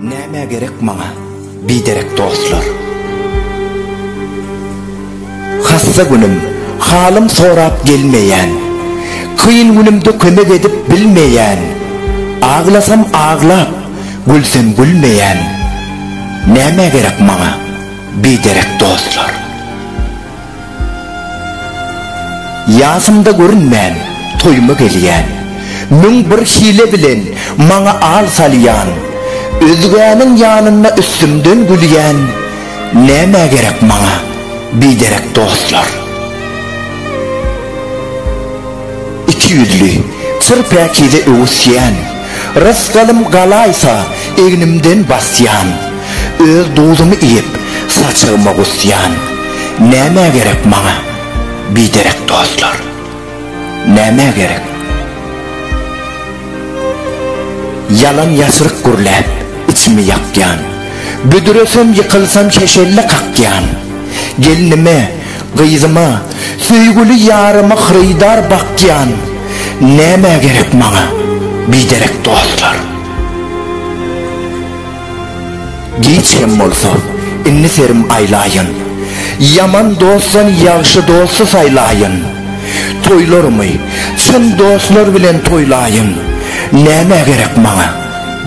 Nämä gerek maňa biderek dostlar? Hassa günüm, halym sorap gelmeýän, Kyn günümde kömek edip bilmeýän, Aglasam aglap, gülsem gülmeýän, Nämä gerek maňa biderek dostlar? Ýasymda görünmän, toýuma gelýän. Müň bir hile bilen maňa al salýan. Özgäniň ýanynda üstümden gülýän. Nämä gerek maňa biderek dostlar? Iki ýüzli, çyr päkize öwüsýän. Rysgalym galaýsa, egnimden basýan. Öz duzumy iýip, saçagyma gusýan. Nämä gerek maňa biderek dostlar? Nämä gerek? Ýalan ýaşryk gürläp, içimi ýakýan. Büdresem, ýykylsam şeşelle kakýan. Gelnime, gyzyma, söýgüli ýaryma hyrydar bakýan. Nämä gerek maňa biderek dostlar? Giç hem bolsa, indi serim aýlaýyn. Ýaman dostdan ýagşy dosty saýlaýyn. Toýlarymy çyn dostlar bilen toýlaýyn. Nämä gerek maňa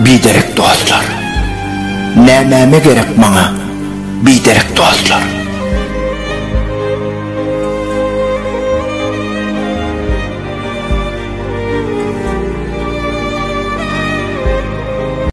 biderek dostlar? Nämäme gerek maňa biderek dostlar?